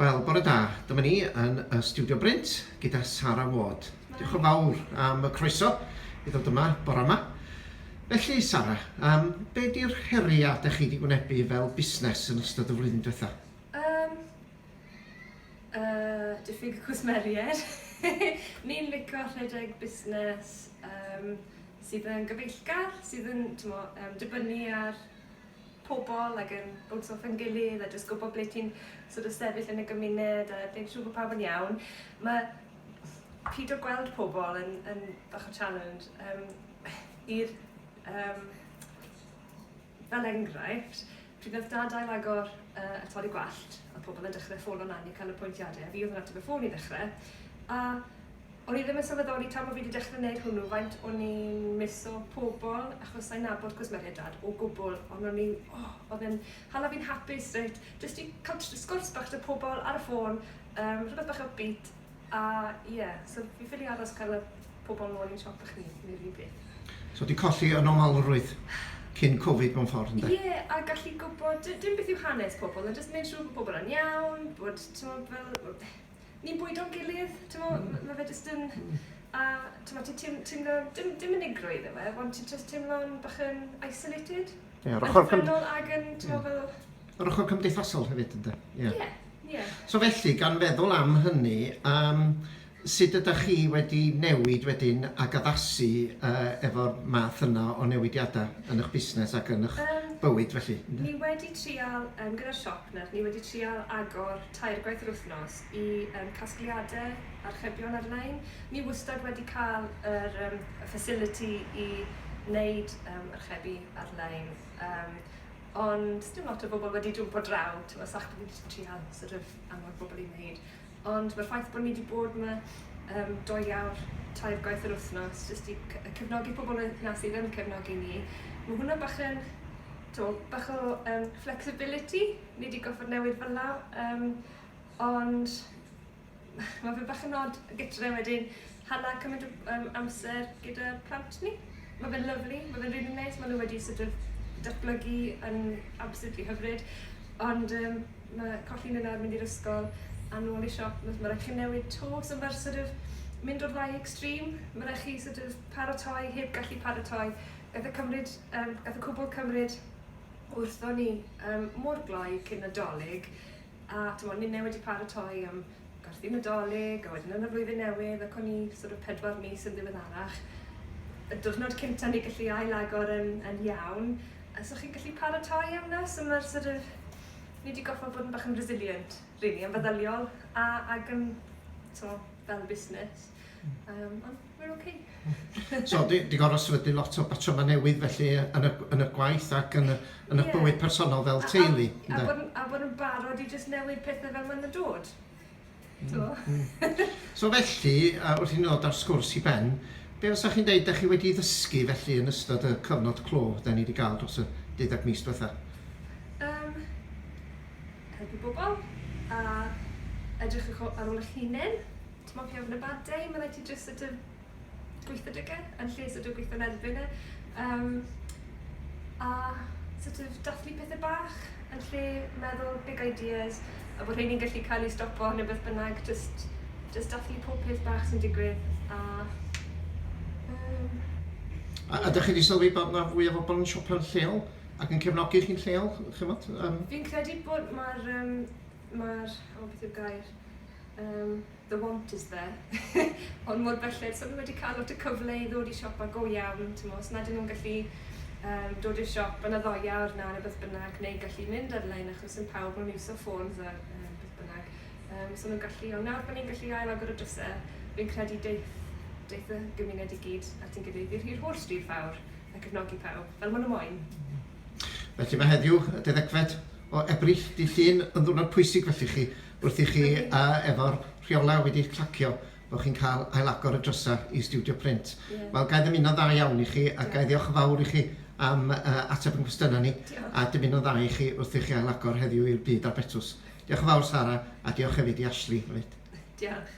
Wel, bore da. Dyma ni yn y Stiwdio Brint gyda Sara Ward. Diolch yn fawr am y croeso i ddod yma bore yma. Felly, Sara, yym be 'di'r heriau dach chi 'di wynebu fel busnes yn ystod y flwyddyn diwetha'? Yym yy diffyg cwsmeriaid. Ni'n lico rhedeg busnes yym sydd yn gyfeillgar, sydd yn t'mo' yym dibynnu ar pobl ac yn bownsio off ein gilydd a jyst gwybod ble ti'n sort of sefyll yn y gymuned a gwneud siŵr bod pawb yn iawn. Mae pido gweld pobl yn, yn bach o challenge. Um, i'r, um, fel enghraifft, pryd oedd dad ail agor uh, y torri gwallt, a pobl yn dechrau ffôn o'n anni cael y pwyntiadau, a fi oedd yn ateb y ffôn i ddechrau, a O'n i ddim yn sylweddoli tan bo' fi 'di dechre neud hwnnw faint o'n i'n misso pobol achos sai'n nabod cwsmeriaid o gwbwl ond o'n i o o'dd e'n hala fi'n hapus reit jyst i ca'l tr- sgwrs bach 'da pobol ar y ffôn yym rhwbeth bach upbeat a ie so fi ffili aros ca'l y pobol nôl i'n siop o'ch ni neud yr un peth. So di colli y normalrwydd cyn Covid mewn ffordd ynde? Ie a gallu gwbod dim beth yw hanes pobol a jyst neud siŵr bo' pobol yn iawn bod t'mod fel ni'n bwydo'n gilydd, timod, mm. mae fe jyst yn... Mm. A timod, ti'n teim, teimlo, dim, dim unigrwydd efo, ond ti'n just teimlo'n bach yn isolated. Ie, yeah, ochr... Yn ag yn, timod, fel... Yr ochr cymdeithasol hefyd, ynddo? Ie. Yeah. Yeah. Yeah. So felly, gan feddwl am hynny, um, sut ydych chi wedi newid wedyn ac addasu uh, efo'r math yna o newidiadau yn eich busnes ac yn eich um, bywyd felly? Ni wedi trial, um, gyda'r siop nawr, ni wedi trial agor tair gwaith yr wythnos i yym casgliadau archebion ar-lein. Ni wastad wedi cael yr yym y facility i wneud yym archebu ar-lein yym ond sdim lot o bobl wedi jwmpo draw t'mo' sach bo' fi jyst yn trial sort of anfon pobl i wneud ond ma'r ffaith bo' ni 'di bod 'ma yym dou awr tair gwaith yr wythnos jyst i c- yy cefnogi pobl yy 'na sydd yn cefnogi ni ma' hwnna bach yn t'mo' bach o yym flexibility Nei di gorfod newid fylla yym ond ma' fe bach yn od gytre wedyn hala cymaint o yym amser gyda plant ni. Ma' fe'n lyfli ma' fe'n rili neis ma' n'w wedi sort of datblygu yn absolutely hyfryd ond yym ma' colli n'w nawr mynd i'r ysgol a nôl i siop ma' ma' raid chi newid 'to so ma'r sort of mynd o'r ddau extreme ma' raid chi sort of paratoi heb gallu paratoi gath e cymryd yym gath y cwbwl cymryd wrth o'n i um, mor gloi cyn Nadolig, a tymod, ninnau wedi paratoi am gwerthu Nadolig, a wedyn yn y flwyddyn newydd, ac o'n i sort of pedwar mis yn ddiweddarach, y diwrnod cynta ni gallu ailagor yn, yn iawn, a so chi'n gallu paratoi am na, so mae'r sort of, ni wedi goffa bod yn bach yn resilient, really, yn feddyliol, a, ac yn, so, fel busnes. Um, ond We're ok. So, di, di gorfod sefydlu lot o batrymau newydd felly yn y, yn y gwaith ac yn y, yn y yeah. bywyd personol fel teulu. A, a, a, a bod yn barod i just newid pethau fel maen nhw'n dod. Mm. mm. so felly, uh, wrth i ni ddod ar sgwrs i ben, be fysa chi'n deud, da chi wedi ddysgu felly yn ystod y cyfnod clo da ni wedi gael dros y deuddeg mis diwetha? Um, helpu bobl a edrych ar ôl eich hunain Dim ond pay over a bad day, mae'n rhaid ti jyst sort of gweithio 'da fe yn lle sort of gweithio'n erbyn e. Yym a sort of dathlu pethe bach yn lle meddwl big ideas a bod rheini'n gallu cael eu stopo neu beth bynnag, jyst jyst dathlu pob peth bach sy'n digwydd a yym... A ydych chi 'di sylwi bod 'na fwy o bobl yn siopa'n lleol ac yn cefnogi chi'n lleol chimod yym... Fi'n credu bod ma'r yym ma'r o beth yw'r gair? Yym, the want is there. Ond mor belled, so ni wedi cael lot o cyfle i ddod i siopa go iawn, t'mo', os nad 'yn nhw'n gallu um, dod i'r siop yn y ddoe awr na neu beth bynnag, neu gallu mynd ar-lein achos yn pawb mewn iwso ffôns a um, beth bynnag. Um, so nhw'n gallu, ond nawr bod ni'n gallu ail agor y drysau, fi'n credu deith, deith y gymuned i gyd at yn gilydd i'r holl stryd fawr a cefnogi pawb, fel maen nhw moyn. Felly mae heddiw, y deuddegfed o Ebrill, dydd Llun, yn ddwrnod pwysig felly chi, Wrth i chi a efo'r rheolau wedi eich clacio bod chi'n cael ailagor y drysau i stiwdio print. Wel, ga i ddymuno'n dda iawn i chi a ga i ddiolch yn fawr i chi am yy ateb ein cwestiynau ni a dymuno'n dda i chi wrth i chi ailagor heddiw i'r byd a'r betws. Diolch yn fawr Sara a diolch hefyd i Ashley hefyd. Diolch.